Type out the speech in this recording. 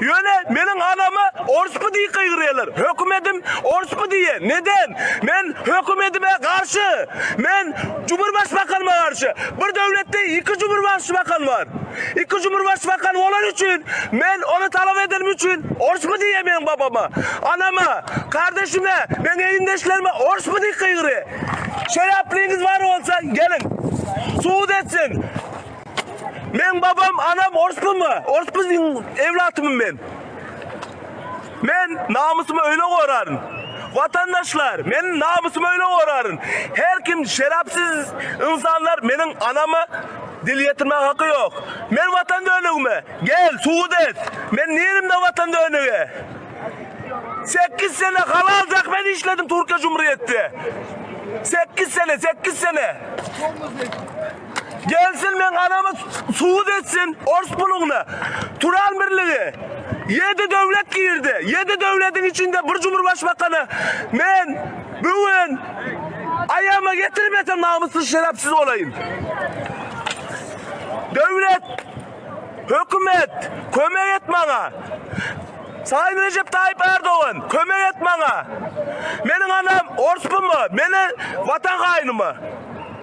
Ýöne meniň anama orsby diýip gygyrýarlar. Hökümedim orsby diýýär. Neden? Men hökümedime garşy. Men Cumurbaşbakanyma garşy. Bir döwletde iki Cumurbaşbakan bar. Iki Cumurbaşbakan bolany üçin men ony talap edenim üçin orsby diýýär meniň babama, anama, kardeşime, meniň egindeşlerime orsby diýip gygyrýar. Şeraplyňyz bar bolsa geliň. Subut etsin. Meň babam anam orspumy? Orspuzyň ewlatymy men? Men namysymy öýle goraryn. Watandaşlar, men namysymy öýle goraryn. Her kim şerapsiz ynsanlar meniň anama dil ýetirmäge haky ýok. Men watan dönügimi, gel, subut et. Men nirimde watan dönügi? Sekiz sene halal zähmet işledim Türkiýe Jumryýetde. Sekiz sene, sekiz sene. Gelsin meň anamy suwut etsin ors puluňna. Turan birligi. Ýedi döwlet girdi. Ýedi döwlediň içinde bir cumurbaşbakana men bu gün aýagyma getirmesem namyssyz şerepsiz bolaýyn. Döwlet, hökümet kömek et maňa. Sayyn Recep Tayyip Erdogan kömek et maňa. Meniň anam ors pumy, meni watan haýnymy.